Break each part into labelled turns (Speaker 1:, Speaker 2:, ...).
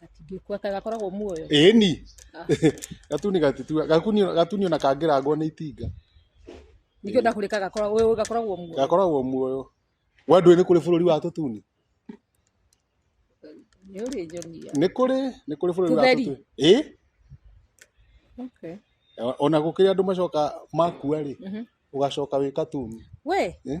Speaker 1: Gatingĩkua kaĩ gakoragwo muoyo. ĩni gatuni gatitu gakunio gatunio na kangĩrangwo nĩ itinga Ningĩ ona kũrĩ ka gakoragwo ũyũ gakoragwo muoyo. gakoragwo muoyo we ndũĩ nĩ kũrĩ bũrũri wa tũtuni Nĩ ũrĩ nyonia. nĩ kũrĩ nĩ kũrĩ bũrũri wa Tũtheri. tũtuni ĩ Okay. ona gũkĩrĩ andũ macoka makua rĩ Mhm. ũgacoka wĩ katuni We, Eh?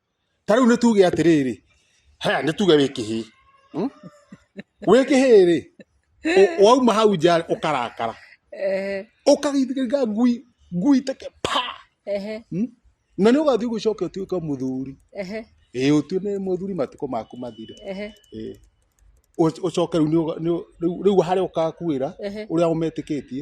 Speaker 1: ta rĩu nĩ tuge atĩrĩrĩ haya nĩ tuge wĩ kĩhĩ hmm? wĩ kĩhĩ rĩ wauma hau nja ũkarakara ũkagithiga ngui ngui take pa hmm? na nĩ ũgathiĩ gũcoka ũtuĩke mũthuri ĩĩ ũtue nĩ mũthuri matukũ maku mathire ucoke riu riu hari ukakuira uria umetikĩtie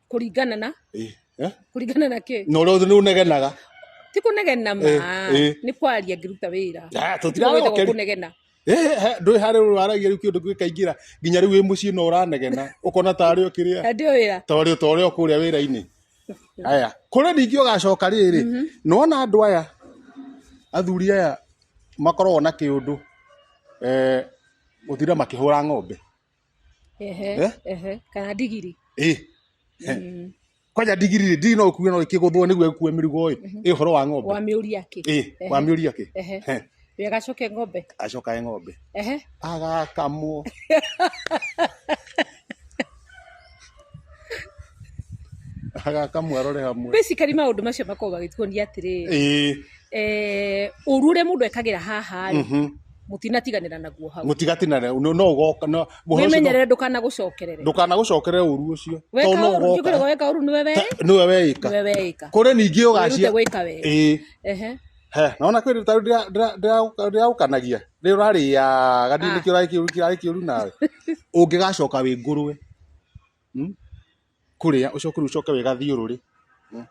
Speaker 1: kũringana na Eh, eh? kũringana na kĩ na ũrĩa nĩ ũnegenaga ti kũnegena ma Eh, eh. nĩ kwaria ngĩruta wĩra Ah, Ti tũtirarĩ gwĩthagwo okeri. kũnegena Eh, eh, ndũĩ harĩ ũyũ waragia rĩu kĩndũ gĩkaingĩra nginya rĩu wĩ mũciĩ no ũranegena ũkona ta arĩ ũkĩrĩa hĩndĩ ĩyo wĩra ta ũrĩ ta ũrĩ kũrĩa wĩra-inĩ aya kũrĩ ningĩ ũgacoka rĩrĩ nona andũ aya athuri aya makoragwo na kĩũndũ eh, gũtira makĩhũra ng'ombe ehe Eh? ehe kana ndigiri ĩ Mm. kwanja ndigiri rĩ ndigiri no ũkue no ĩkĩgũthwo nĩguo ĩkue mĩrigo ĩ ĩ ũhoro wa ng'ombe wa mĩũria kĩ ĩ wa mĩũria kĩ ehe He, we gacoke ng'ombe acokae ng'ombe ehe agakamwo agaka mwarore hamwe basically maundu macio makoragwo magĩtuonia atĩrĩ ĩĩ eh, ũru ũrĩa mũndũ ekagĩra haha rĩ mhm. mũtinatiganĩra naguo hau mũtigatinane no no ũgoka no ũhoro ũcio wĩmenyerere ndũkanagũcokerere ndũkanagũcokere ũru ũcio weka tondũ no ũru ũgoka njũkĩrĩgwo weka ũru nĩwe wĩ nĩwe weĩka nĩwe weĩka kũrĩ ningĩ wĩrute ũgacia gwĩka wega ĩĩ Ehe. He, na ona kwĩrĩ ta ndĩragũkanagia nĩ ũrarĩaga ndini kĩo ũrarĩ kĩũru kĩarĩ kĩũru nawe ũngĩgacoka wĩ ngũrwe hmm? kũrĩa ũcoke rĩu ũcoke wĩgathiũrũrĩ hmm?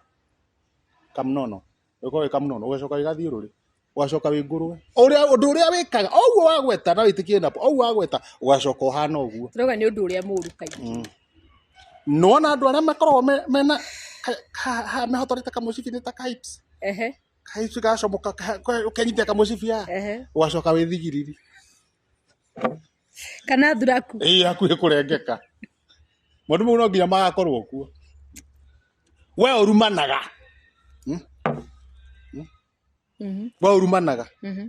Speaker 1: kamnono ũgĩkorwo wĩ kamnono ũgacoka wĩgathiũrũrĩ ũgacoka wĩ ngũrwe ũrĩa ũndũ ũrĩa wĩkaga o ũguo wagweta na wĩtĩkie napo o ũguo wagweta ũgacoka ũhana ũguo rauga nĩ ũndũ ũrĩa mũũru kaingĩ hmm. nĩwona andũ arĩa makoragwo me- mena ka- ka- ha- mehotorete kamũcibi nĩ ta kaips ehe kaips gacomoka ka- ka- ũkenyita kamũcibi ya ehe ũgacoka wĩ thigiriri kana thuraku ĩ hakuhĩ kũrengeka maũndũ mau no nginya magakorwo kuo we ũrumanaga Mhm, we ũrumanaga mhm.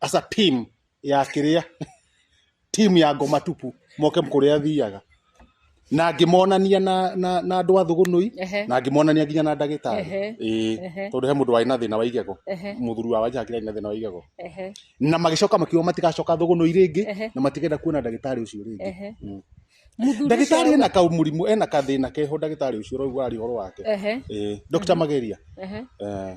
Speaker 1: as a team ya kĩrĩa team ya ngoma tupu moke kũrĩa thiaga na ngĩmonania na na na andũ a thũgũnũi Ehe. na ngĩmonania nginya na ndagĩtarĩ Ehe. ĩĩ Ehe. tondũ he mũndũ warĩ na thĩna wa igego Ehe. mũthuri wa wanja akĩrĩ na thĩna wa igego Ehe. na magĩcoka makiuga matigacoka thũgũnũi rĩngĩ Ehe. na matigenda kuona ndagĩtarĩ ũcio rĩngĩ Ehe. Mm. Mũthuri ndagĩtarĩ ũcio- ena kau mũrimũ ena kathĩna keho ndagĩtarĩ ũcio ũraigua ũhoro wake Ehe. ĩĩ Dr. Mageria Ehe. eh,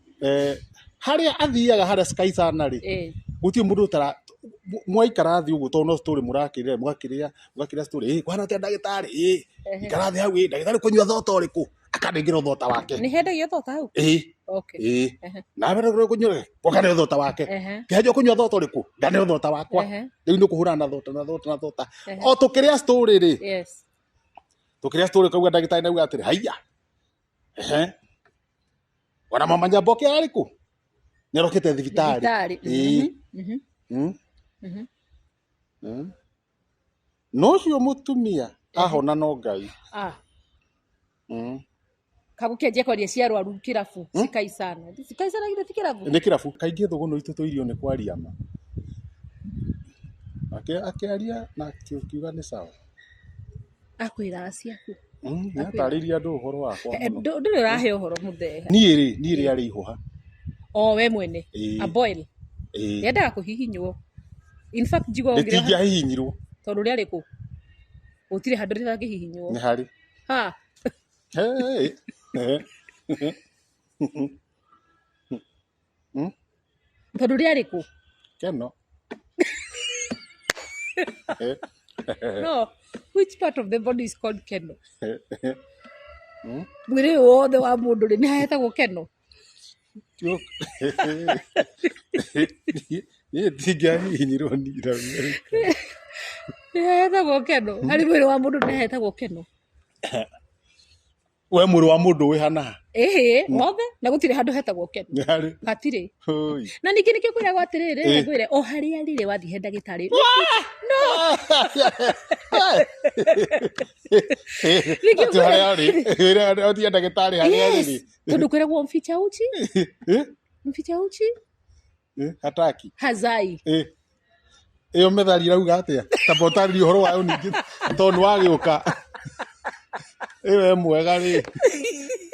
Speaker 1: eh, harĩa athiaga harĩa sky sana rĩ eh. gũtirĩ mũndũ ũtara mwaikara thĩ ũguo tondũ no story mũrakĩrĩra mũgakĩrĩa mũgakĩrĩa story ĩ kwana atĩa ndagĩtarĩ ĩ ikara thĩ hau ĩ ndagĩtarĩ kũnyua thota ũrĩkũ akanengera thota wake nĩ hendagia thota hau ĩ ĩ na mbere kũrĩa kũnyua wakane thota wake kĩhanjia kũnyua thota ũrĩkũ ngane thota wakwa rĩu nĩ kũhũrana na thota na thota na thota o tũkĩrĩa story rĩ tũkĩrĩa story kauga ndagĩtarĩ nauga atĩrĩ haiya Ona mama Nyamboke ararĩ kũ? Nĩ arokĩte thibitarĩ. Thibitarĩ. Ĩĩ. Mhm, mhm, Mm. mhm. Mm. No ũcio mũtumia ahona no Ngai. Ah, Mm. kagũkenjia kwaria cia arwaru kĩrabu Hmm? cikaicana cikaicana githĩ ti kĩrabu Nĩ kĩrabu kaingĩ thũgũnũ itũ tũirio nĩ kwaria ma. Ake- Akĩaria na akiuga nĩ sawa. akwĩra acia kũ Mm, nĩ atarĩirie andũ ũhoro wakwa Eh, mũno. ndũ- ndũrĩ ũrahe ũhoro mũtheha niĩ rĩ niĩ rĩ arĩ ihũha o we mwene Ĩĩ. a boil Ĩĩ. yendaga kũhihinywo in fact njigo ngĩra rĩtingĩahihinyirwo tondũ rĩarĩ kũ gũtirĩ handũ rĩtangĩhihinywo nĩ harĩ ha Hey. Hmm? Tondũ rĩarĩ kũ? Keno. No, which part of the body is called keno? Hmm? Mwĩrĩ ũyũ wothe wa mũndũ rĩ, nĩ hahetagwo keno? Tio- Niĩ ndingĩahihinyirwo ni Amerika. Nĩ hahetagwo keno? Harĩ mwĩrĩ wa mũndũ nĩ hahetagwo keno? we mwĩrĩ wa mũndũ wĩ hana ha? ĩhĩ wothe na gũtirĩ handũ hetagwo kenu nĩ harĩ hatirĩ Hũi. na ningĩ nĩkĩo kwĩragwo atĩrĩrĩ Ĩ. ngwĩre o harĩa rĩrĩ wathiĩ he ndagĩtarĩ Ningĩ Ati harĩa arĩ wĩra ũthiĩ ndagĩtarĩ harĩa arĩ Yes. rĩ tondũ kwĩragwo mficha uchi Eh? mficha uchi Eh, hataki hazai Eh. ĩyo methali irauga atĩa tamba ũtarĩria ũhoro wayo ningĩ tondũ nĩ wagĩũka ĩyo e mwega rĩ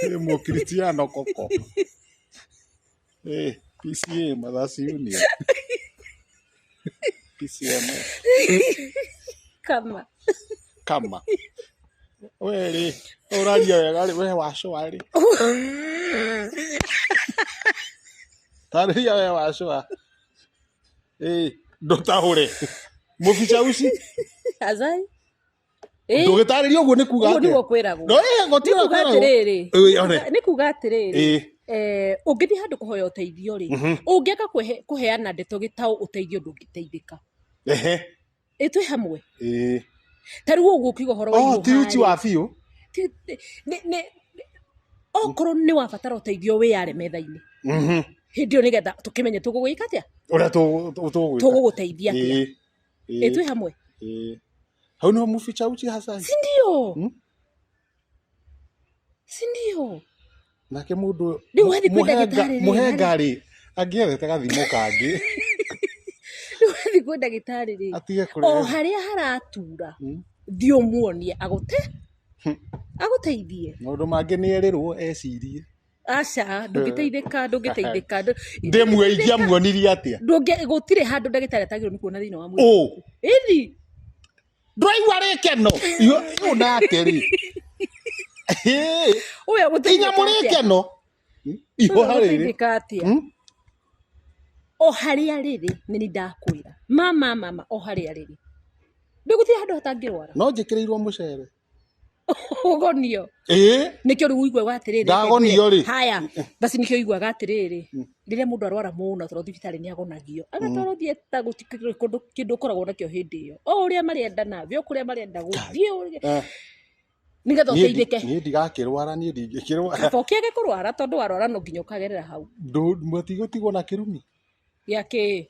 Speaker 1: ĩ mũkristiano koko Eh, pca mathasi union pcm kama kama we rĩ ũraria wega rĩ we wacoa rĩ tarĩria we wacũa ĩĩ ndũtahũre mũbica uci azai Ĩĩ, ndũgĩtarĩria ũguo nĩ kuga ũguo atĩa? nĩguo kwĩragwo No, ĩĩ, nĩ gũtirĩ kuga kwĩragwo. atĩrĩrĩ Ĩĩ, one. nĩ kuga atĩrĩrĩ Ĩĩ. eh, ũngĩthiĩ handũ kũhoya ũteithio rĩ Mhm. ũngĩaka kũhe- kũheana ndeto gĩtaũ ũteithio ndũngĩteithĩka Ehe. ĩ twĩ hamwe ĩĩ ta rĩu ũguo ũkiuga ũhoro wa oh ti uchi wa iruha-rĩ, biũ ti- ti- nĩ- nĩ- okorwo nĩ wabatara ũteithio wĩyare metha-inĩ Mhm. hĩndĩ ĩyo nĩgetha tũkĩmenye tũgũgĩka atĩa ũrĩa tũ- tũ- tũgwĩka tũgũgũteithia atĩa Ĩĩ, ĩ ĩĩ, twĩ hamwe ĩĩ. hau nĩho muficha uchi hasa sindio Hmm? si ndio nake mũndũ ũyũ- Rĩu mu- wathiĩ kwĩ mũhenga- ndagĩtarĩ rĩ, mũhenga rĩ angĩethete gathimo kangĩ rĩu wathiĩ kwĩ ndagĩtarĩ rĩ atige o kũrĩa harĩa haratura Mm. thiĩ ũmuonie agũte Hmm. agũteithie maũndũ mangĩ nĩ erĩrwo ecirie aca ndũngĩteithĩka ndũngĩteithĩka ndũ- ndĩmue ingĩamuonirie atĩa ndũngĩ gũtirĩ handũ ndagĩtarĩ atagĩrĩirwo nĩ kuona thĩinĩ wa mwĩrĩ ũ ĩthi ndũraigua rĩ keno yũ nake rĩ inyamũ rĩ keno ihoha rĩrĩ o harĩa rĩrĩ nĩ nĩ ndakwĩra mama mama o harĩa rĩrĩ ndĩgũthiĩ handũ hatangĩrwara no njĩkĩrĩirwo mũcere ugonio eh nikio riu uiguaga atiriri ndagonio ri haya basi nikio uiguaga atiriri hmm. riria mundu arwara muno toro thibitari ni agonagio hmm. agatoro thie ta gutikire kundu kindu koragwo nakio hindi iyo o uria mari enda na vi okuria mari enda guthie eh. nigetha uteithike ni ndigakirwara ni ndingikirwara to kiage kurwara tondu warwara no nginya ukagerera hau ndu matigotigwo na kirumi ya ki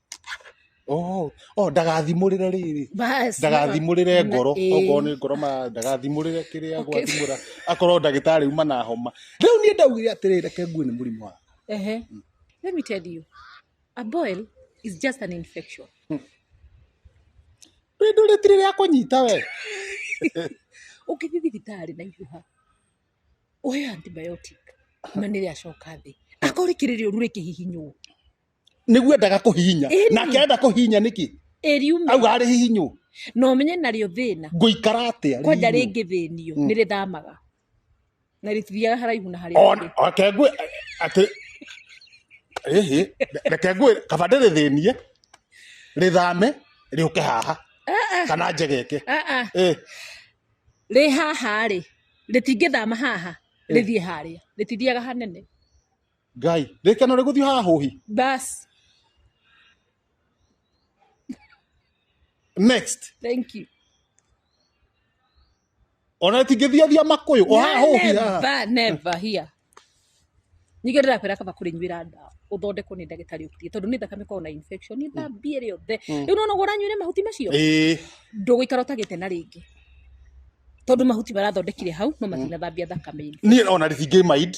Speaker 1: Oh, oh, ndagathimũrĩre rĩrĩ Bas. ndagathimũrĩre Na- ngoro ĩĩ. okorwo nĩ ngoro ma ndagathimũrĩre kĩrĩa Okay. gwathimũra akorwo ndagĩtarĩ uma na homa rĩu niĩ ndaugire atĩrĩ reke ngue nĩ mũrimũ wa Ehe. Let me tell you. A boil is just an infection. rĩndũ rĩtirĩ rĩa kũnyita we Ũngĩthiĩ thibitarĩ na ihuha, ũheo antibiotic, na nĩ rĩacoka thĩ. Akorwo rĩkĩrĩ rĩũru rĩkĩhihinywo. nĩguo endaga kũhihinya Ĩni. nake arenda kũhihinya nĩkĩ ĩriume auga arĩ hihinywo no menye narĩo thĩna ngũikara atĩa kwanja rihinywo? rĩngĩ thĩnio Mm. nĩ rĩthamaga na rĩtithiaga haraihu na harĩa On- ũngĩ. reke ngwĩ atĩ ĩhĩ reke ngwĩ kaba ndĩrĩthĩnie rĩthame rĩũke haha kana njegeke Ah, ah. Eh, rĩ haha rĩ rĩtingĩthama haha rĩthiĩ harĩa rĩtithiaga hanene ngai rĩkeno rĩgũthiĩ haha hũhi Bas. next Thank you. ona tingĩthiathia makũyũ o haha hũhi haha Never, never here. Ningĩ ndĩrakwĩra kaba kũrĩnyuĩra ndawa ũthondekwo nĩ ndagĩtarĩ ũkiriĩ tondũ nĩ thakame korwo na infection nĩ thambie rĩothe Mm. rĩu nona ũranyuĩre mahuti macio ĩĩ ndũgũikara ũtagĩte na rĩngĩ tondũ mahuti marathondekire hau no matinathambia thakame-inĩ niĩ ona ndĩtingĩ mind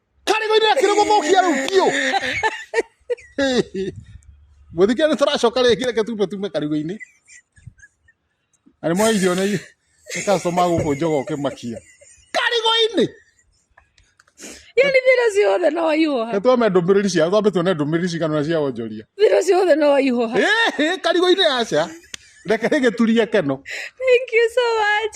Speaker 1: karĩgo-inĩ na kĩrĩ gũthũkia rĩu biũ mũthikĩra nĩ tũracoka rĩngĩ reke tume tume karĩgo-inĩ na nĩ mwa irio nĩ customer gũkũ njoga ũkĩmakia karĩgo-inĩ yani thira ciothe no waihũha nĩ twame ndũmĩrĩri cia twambe tuone ndũmĩrĩri cigana na cia wonjoria thira ciothe no waihũha Ĩhĩ, karĩgo-inĩ aca reke rĩgĩturie keno thank you so much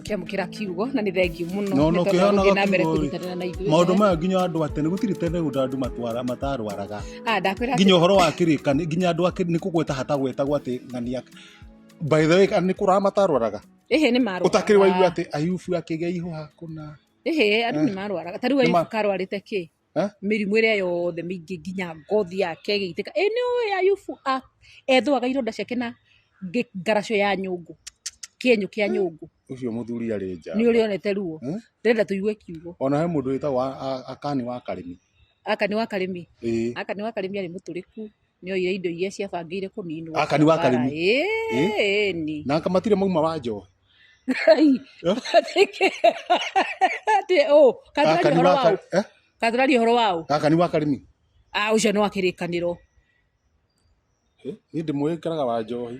Speaker 1: kiamukira kiugo na nä thengiå må No, no, kĩhanaga nogä na mbere kiugo-ĩ. kũrutanĩra na ithuĩ maå ndå maya nginya andå atene nä gå tirä tene gå ndå andå matwara matarwaraga Ah, ndakwĩra atĩ- nginya å horo wa kä rä ka nginya andå nä kå gweta hatagwetagwo atä ng'ania by the way nä kå raga matarwaraga ĩhĩ nĩ å takä rä waigua marwaraga atä ayubu akä gä a ihå hakå na ĩhĩ andũ nĩ marwaraga ta rĩu Nĩ ma- ayubu karwarĩte kĩ Eh? mĩrimũ ĩrĩa yothe mĩingĩ nginya ngothi yake ĩgĩitĩka ĩ nĩ ũĩ ayubu a- ethũaga ironda ciake na ngĩ- ngaraco ya nyũngũ kĩenyũ kĩa nyũngũ Ũcio mũthuri arĩ nja. nĩ ũrĩ onete ruo Eh? ndĩrenda tũigue kiugo Ona he mũndũ wĩtagwo a- a- Akani wa Karĩmi. aka nĩ wa karĩmi Ĩĩ. aka nĩ wa karĩmi arĩ mũtũrĩku nĩoire indo iria ciabangĩire kũninwo Akani wa Karimi. ĩni na akamatire mauma wa njohi ngai Eh? atĩ ũ kathuraria Akani ũhoro wa waũ Kar- eh? kathuraria ũhoro waũ akani wa karimi a ũcio nĩ wa kĩrĩkanĩro Eh, niĩ ndĩmũĩkĩraga wa njohi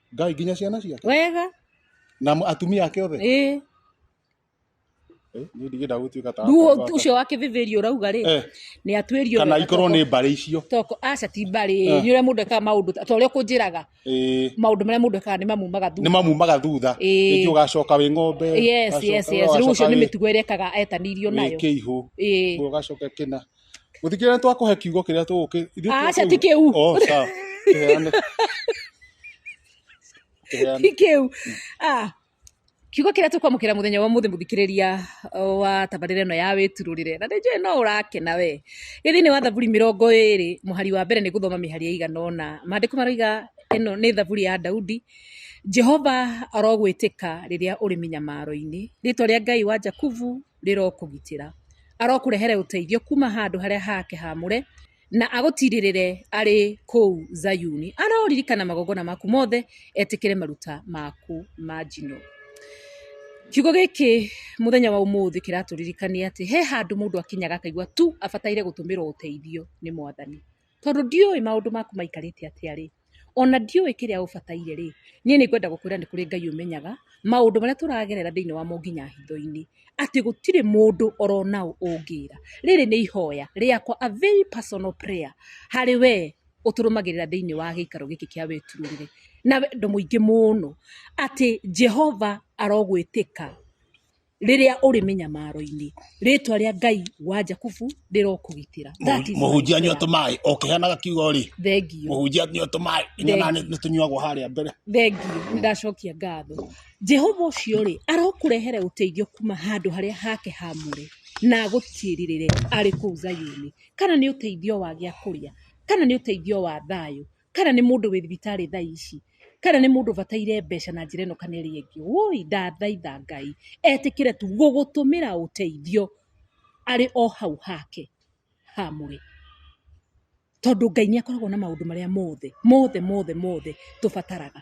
Speaker 1: ngai nginya ciana ciake wega na mu- atumia ake othe ĩ Eh, niĩ ndigenda gũtuĩka ta ruo akwa- ũcio wa kĩbĩbĩri ũrauga rĩ Eh, nĩ atuĩrio kana wega ikorwo toko- nĩ mbarĩ icio toko aca ti mbarĩ Eh. nĩ ũrĩa mũndũ ekaga maũndũ ta ta ũrĩa ũkũnjĩraga Eh, maũndũ marĩa mũndũ ekaga nĩ mamumaga nĩ thutha mamumaga thutha Eh. rĩngĩ ũgacoka wĩ ng'ombe yes ũgacoka- yes yes rĩu ũcio ũgacoka nĩ wĩ- mĩtugo ĩrĩa ekaga etanirio wĩ nayo kĩihũ ĩĩ ũgacoka kĩna Mũthikĩrĩria nĩ twakũhe kiugo kĩrĩa tũgũkĩ. ithuĩ tũgũkĩ- Aca ti kĩu. Oh, sawa. Kĩheane. Kĩheane. ti kĩu Ah, kiugo kĩrĩa tũkwamũkĩra mũthenya wa mũthĩ mũthikĩrĩria uh, wa tabarĩra ĩno ya wĩturũrĩre na nĩnjũĩ no ũrakena we gĩ thĩinĩ wa thaburi mĩrongo ĩrĩ mũhari wa mbere nĩ gũthoma mĩhari ya igana ũna maandĩko maroiga ĩno nĩ thaburi ya daudi jehova arogwĩtĩka rĩrĩa ũrĩ mĩnyamaro-inĩ rĩtwa rĩa ngai wa jakubu rĩrokũgitĩra. Arokũrehere ũteithio kuuma handũ harĩa hake haamũre, na agũtiirĩrĩre arĩ kũu Zayuni. Aroririkana magongona maku mothe, etĩkĩre maruta maku ma njino. Kiugo gĩkĩ mũthenya wa ũmũthĩ kĩratũririkania atĩ he handũ mũndũ akinyaga akaigua tu abataire gũtũmĩrwo ũteithio nĩ Mwathani. Tondũ ndiũĩ maũndũ maku maikarĩte atĩa rĩ, ona ndiũĩ kĩrĩa ũbataire rĩ, niĩ nĩ ngwenda gũkwĩra nĩ kũrĩ Ngai ũmenyaga, maũndũ marĩa tũragerera thĩiniĩ wamo nginya hitho-inĩ, atĩ gũtirĩ mũndũ oro na ũ ũngĩra. Rĩrĩ nĩ ihoya rĩakwa a very personal prayer harĩ we ũtũrũmagĩrĩra thĩiniĩ wa gĩikaro gĩkĩ kĩa wĩturĩrĩre, na wendo mũingĩ mũno, atĩ Jehova arogwĩtĩka. rĩrĩa ũrĩ mĩnyamaro-inĩ rĩtwa rĩa ngai wa jakubu rĩrokũgitĩra That is mũhunjia my nyua prayer. tũmaĩ o kĩheanaga kiugo rĩ thengio mũhunjia nyua tũmaĩ nyona nĩ tũnyuagwo harĩa mbere thengio ndacokia ngatho jehova ũcio rĩ arokũrehere ũteithio kuma handũ harĩa hake hamũre na agũtiĩrĩrĩre arĩ kũu zayuni kana nĩ ũteithio wa gĩa kũrĩa kana nĩ ũteithio wa thayũ kana nĩ mũndũ wĩ thibitarĩ thaa ici, kana nĩ mũndũ ũbataire mbeca na njĩra ĩno kana ĩrĩa ĩngĩ, wũi ndathaitha Ngai etĩkĩre tu gũgũtũmĩra ũteithio arĩ o hau hake hamũre, tondũ Ngai nĩ akoragwo na maũndũ marĩa mothe mothe mothe mothe tũbataraga.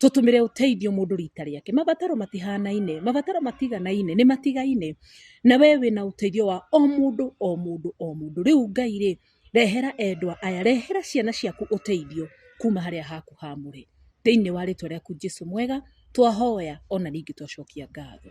Speaker 1: tũtũmĩre ũteithio mũndũ rita rĩake. Mabataro matihanaine, mabataro matiganaine, nĩ matigaine. Na we wĩna ũteithio wa o mũndũ o mũndũ o mũndũ. Rĩu Ngai rĩ, rehera endwa aya, rehera ciana ciaku ũteithio kuma harĩa haku haamũre. Thĩinĩ wa rĩtwa rĩaku Jesu mwega, twahoya ona ningĩ twacokia ngatho.